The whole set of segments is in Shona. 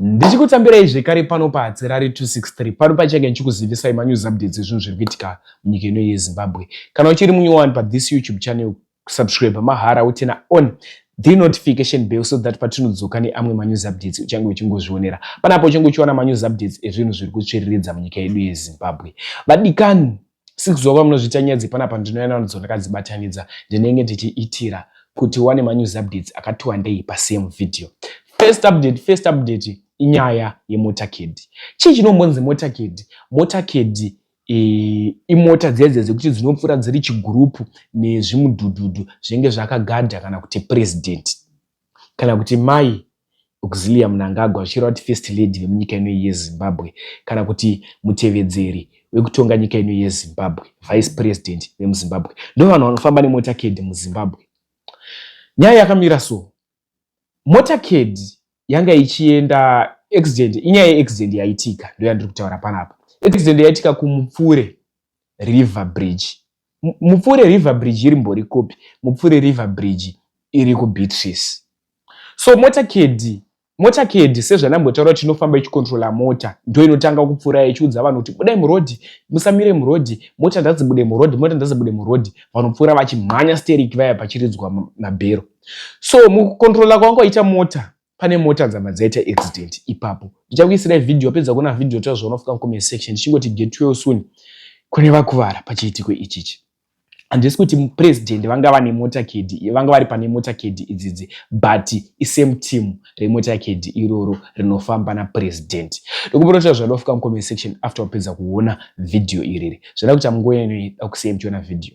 ndichikutambirai zvekare pano pahatsirari 263 pano pachange ndichikuzivisai manews updates ezvinhu zviri kuitika munyika ino yezimbabwe kana uchiri munyowani pathis youtube channel kusubscribe mahara utina on the notification bell so that patinodzoka neamwe manews updates uchange uchingozvionera panapo uchange uchiwana manews updates ezvinhu zviri kutsviriridza munyika yedu yezimbabwe vadikani sikuziva kwamunozviita nyaya dzepanapa ndinouya nanodzo ndakadzibatanidza ndinenge ndichiitira kuti wane manews updates akati wandei pasame video first update first update inyaya yemotakedi chii chinombonzi motakedi motakedi e, imota dzedze dzekuti dzinopfuura dziri chigurupu nezvimudhudhudhu zvinenge zvakagadha kana kuti president kana kuti mai Auxillia Mnangagwa vachireva kuti First Lady vemunyika ino yeZimbabwe kana kuti mutevedzeri wekutonga nyika ino yeZimbabwe, Vice President vemuZimbabwe. Ndovanhu vanofamba nemotorcade muZimbabwe. Nyaya yakamira so, motorcade yanga ichienda accident, inyaya yeaccident yaitika ndoyandiri kutaura panapa. Accident yaitika kuMupfure River Bridge Mupfure River Bridge iri mbori kupi? Mupfure River Bridge iri kuBeatrice. So mota kedhi mota kedhi sezvandambotaura kuti inofamba ichikontrola mota ndo inotanga kupfuura ichiudza vanhu kuti budai murodhi musamire murodhi mota ndadzibude murodhi mota ndadzibude murodhi vanopfuura vachimhanya steriki vaya pachiridzwa mabhero so mukukontrola kwanga kwaita mota pane mota dzabva dzaita accident ipapo ndichakuisirai video wapedza kuona video ta zvaunofika mucomment section ndichingoti get well soon kune vakuvara pachiitiko ichichi handisi kuti president vanga vane mota kdi vanga vari pane mota kdi idzidzi but isame team remota kdi iroro rinofamba napresident ndokumbonotira zvanofika mucomment section after wapedza kuona video iriri zvada kuti amngoyanoida kusei muchiona video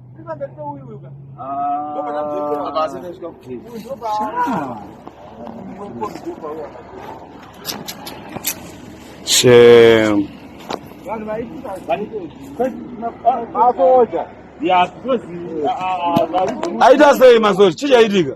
Shame. Aita sei masoja? Chii chaitika?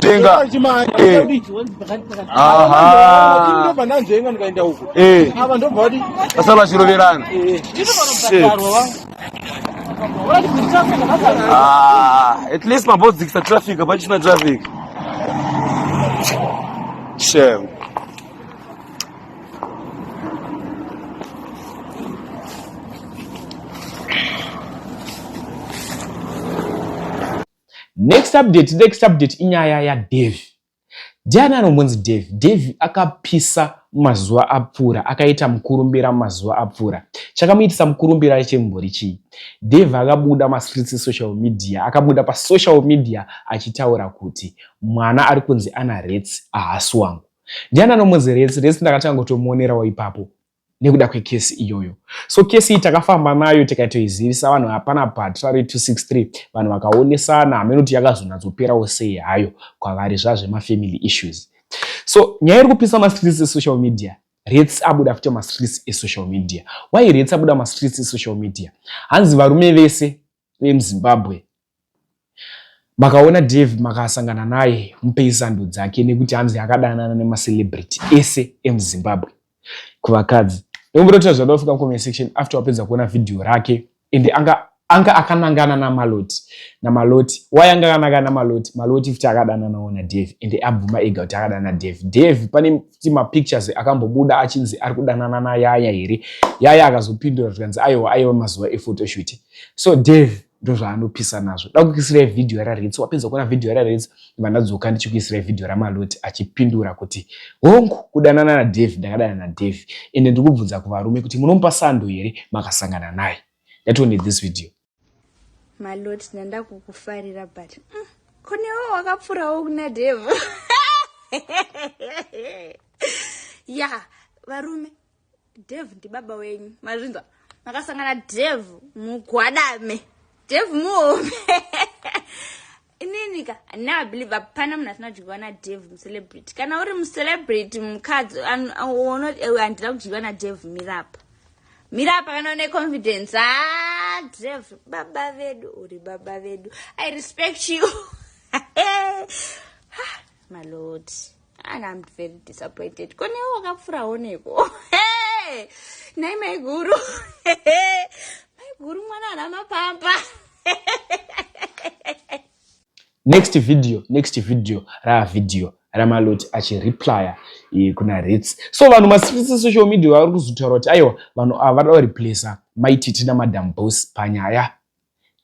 Tenga. Sasa vachiroverana. Ah, at least mabodzi dzikisa traffic hapachina traffic. Shame. next update next update inyaya yadevi ndiani anombonzi devi devi akapisa mazuva apfuura akaita mukurumbira mazuva apfuura chakamuitisa mukurumbira chembori chii devi akabuda mastreets esocial media akabuda pasocial media achitaura kuti mwana ari kunzi ana rets ahasi wangu ndiani anombonzi rets rets ndakatanga kutomuonerawo ipapo nekuda kwekesi iyoyo so kesi iyi takafamba nayo tikatoizivisa vanhu hapana but rari 263 vanhu vakaonesana hameno kuti yakazonatsoperawo sei hayo kwavari zvazvemafamily issues so nyaya iri kupisa mastreets esocial media rets abuda futi mastreets esocial media why rets abuda mastreets esocial media hanzi varume vese vemuzimbabwe makaona dave makasangana naye mupei sando dzake nekuti hanzi akadanana nemacelebrity ese emuzimbabwe kuvakadzi nekumbotoita zvada kufika mucomment section after wapedza kuona vhidhiyo rake ende anga anga akanangana namaloti namaloti why anga akanangana namaloti maloti futi akadananawo nadave ende abvuma ega kuti akadana dave dave pane ti mapictures akambobuda achinzi ari kudanana nayaya here yaya akazopindura zvikanzi aiwa aiwa mazuva efotoshooting so dave ndozvaanopisa nazvo dakukuisirai vhidhiyo raritsi wapedza kuona vhidhiyo raritsi vandadzoka ndichikuisirai vhidhiyo ramaloti achipindura kuti hongu kudanana nadave ndakadana nadave ende ndiri kubvunza kuvarume kuti munomupa sando here makasangana naye ndatione this video maloti ndandakukufarira but mm, kunewo wakapfurawo kuna dave ya yeah, varume Dev ndibaba wenyu mazvinzwa makasangana Dev mugwadame Dev muhome inini ka now i believe hapana munhu asina kudyiwa nadev mucelebrity kana uri mucelebrity mukadzi eh, handina kudyiwa nadev mirapa mirapa kana une confidence ha ah, dev baba vedu uri baba vedu i respect you maloti and I'm very disappointed ko newe wakapfurawo neko hey! nai maiguru maiguru mwana ana mapamba next video next video raa video ramaloti achireplya eh, kuna rits so vanhu masifisi social media vari kuzotaura kuti aiwa vanhu ava vada kureplesa maititi namadam bos panyaya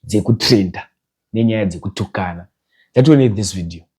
dzekutrenda nenyaya dzekutukana that will need this video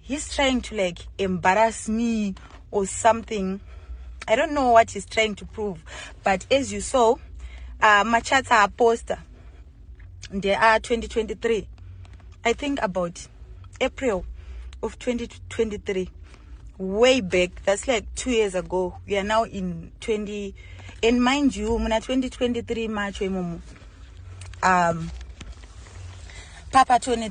he's trying to like embarrass me or something i don't know what he's trying to prove but as you saw uh, machats aaposta ndeaa 2023 i think about april of 2023 way back that's like two years ago we are now in 20 and mind you muna 2023 macho imomo um papa tone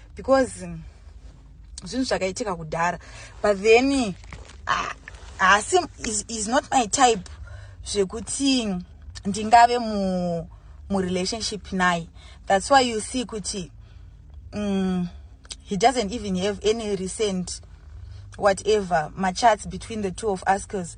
because zvinhu zvakaitika kudhara but then ah, haasi uh, is, is not my type zvekuti ndingave mu murelationship naye that's why you see kuti um, he doesn't even have any recent whatever machats between the two of us because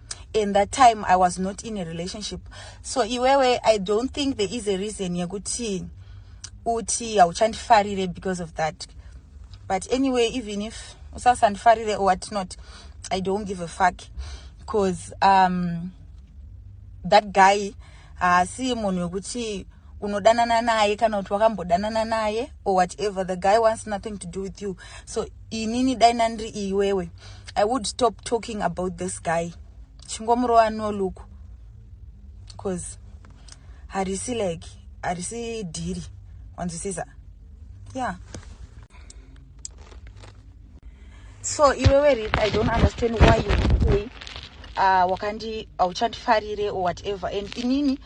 in that time i was not in a relationship so iwewe i don't think there is a reason yekuti uti hauchandifarire because of that but anyway even if usasandifarire or what not i don't give a fuck because um, that guy haasi uh, munhu wekuti unodanana naye kana kuti wakambodanana naye or whatever the guy wants nothing to do with you so inini dai nandiri iwewe i would stop talking about this guy chingomurova no look bcause harisi like harisi dhiri wanzwisisa yeah so iwewe rit i don't understand why you say uh, wakandi hauchandifarire or whatever and inini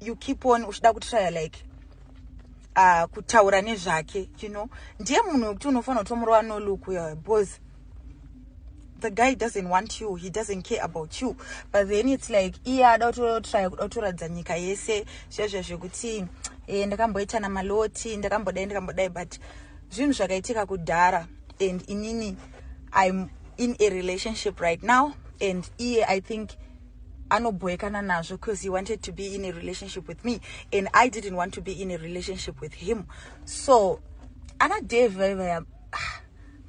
you keep on uchida kutrya like uh, kutaura nezvake you know ndiye munhu wekuti unofanira kuti omurova nolook uyo because the guy doesn't want you he doesn't care about you but then it's like iye ada kutotrya kuda kutoratidza nyika yese zvezve zvekuti e, ndakamboita namaloti ndakambodai ndakambodai but zvinhu zvakaitika kudhara and inini im in a relationship right now and iye i think anobhoekana nazvo because he wanted to be in a relationship with me and i didn't want to be in a relationship with him so ana dave vaivaya ah,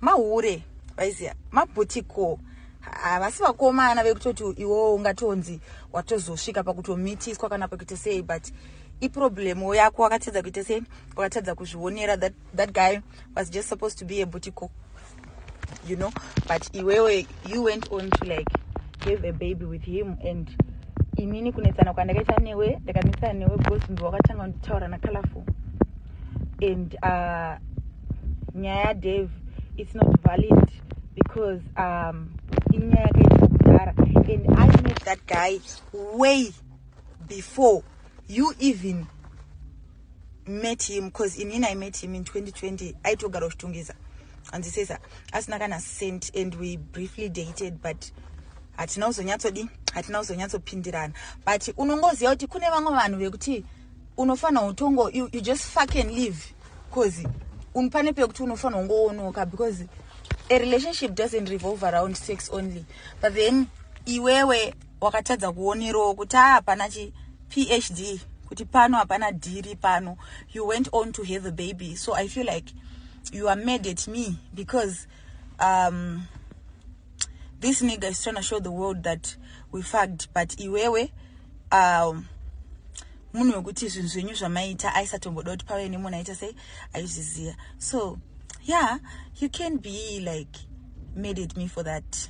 mahure vaiziva mabhutiko havasi vakomana vekutoti iwowo ungatonzi watozosvika pakutomitiswa kana pakuita sei but iproblemu yako wakatadza kuita sei wakatadza kuzvionera that, that guy was just supposed to be a butiko you know but iwewe you went on to like have a baby with him and inini kunetsana kwandakaita newe ndakanetsana newe because mbi wakatanga kunditaura nacolorful and uh, nyaya yadave it's not valid because um, inyaya yakaita kudhara and i met that guy way before you even met him because inini i met him in 2020 aitogara uchitungisa anzisesa asina kana cent and we briefly dated but hatina kuzonyatsodi hatina kuzonyatsopindirana but unongoziva kuti kune vamwe vanhu vekuti unofanira utongo you, you just fuck and live bcause pane pekuti unofanira ungoonoka because a relationship doesn't revolve around sex only but then iwewe wakatadza kuonerowo kuti haa hapana chi phd kuti pano hapana dhiri pano you went on to have a baby so i feel like you are mad at me because um, this nigger is trying to show the world that we fagged but iwewe um, munhu wekuti zvinhu zvenyu zvamaiita aisatomboda kuti pave nemunhu aita sei aizviziva so yeah you can be like mad at me for that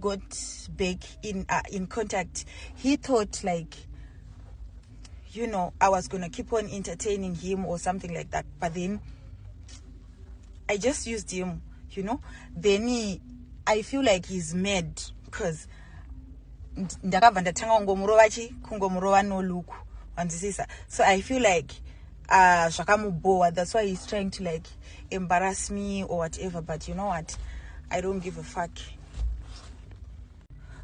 got back in uh, in contact he thought like you know i was gonna keep on entertaining him or something like that but then i just used him you know then he, i feel like he's mad because ndakabva ndatanga kungomurova chi kungomurova noluku wanzwisisa so i feel like uh, zvakamubhowa that's why he's trying to like embarrass me or whatever but you know what i don't give a fuck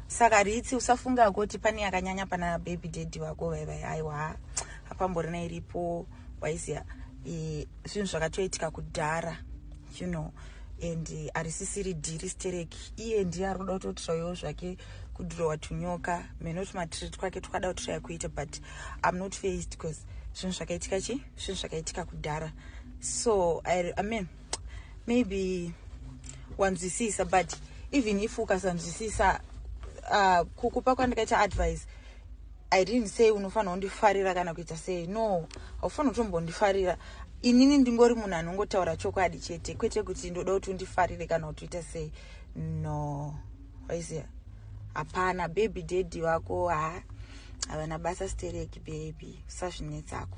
saka ritsi usafunga kuti pane yakanyanya pana baby daddy vako vaivai aiwa hapamborina iripo waiziva e, zvinhu zvakatoitika kudhara you know and e, harisisiri dhiri stereki iye ndiye ari kuda kutotiraiwo zvake kudhirowa tunyoka mheno tumatireti kwake twakada kutiraya kuita but im not faced because zvinhu zvakaitika chi zvinhu zvakaitika kudhara so I, i mean maybe wanzwisisa but even if ukasanzwisisa uh, kukupa kwandikaita advice i didn't say unofanira kundifarira kana kuita sei no haufanira kutombondifarira inini ndingori munhu anongotaura chokwadi chete kwete kuti ndoda kuti undifarire kana kuti uita sei no waiziva hapana baby daddy vako ha havana basa stereki baby usazvinetsako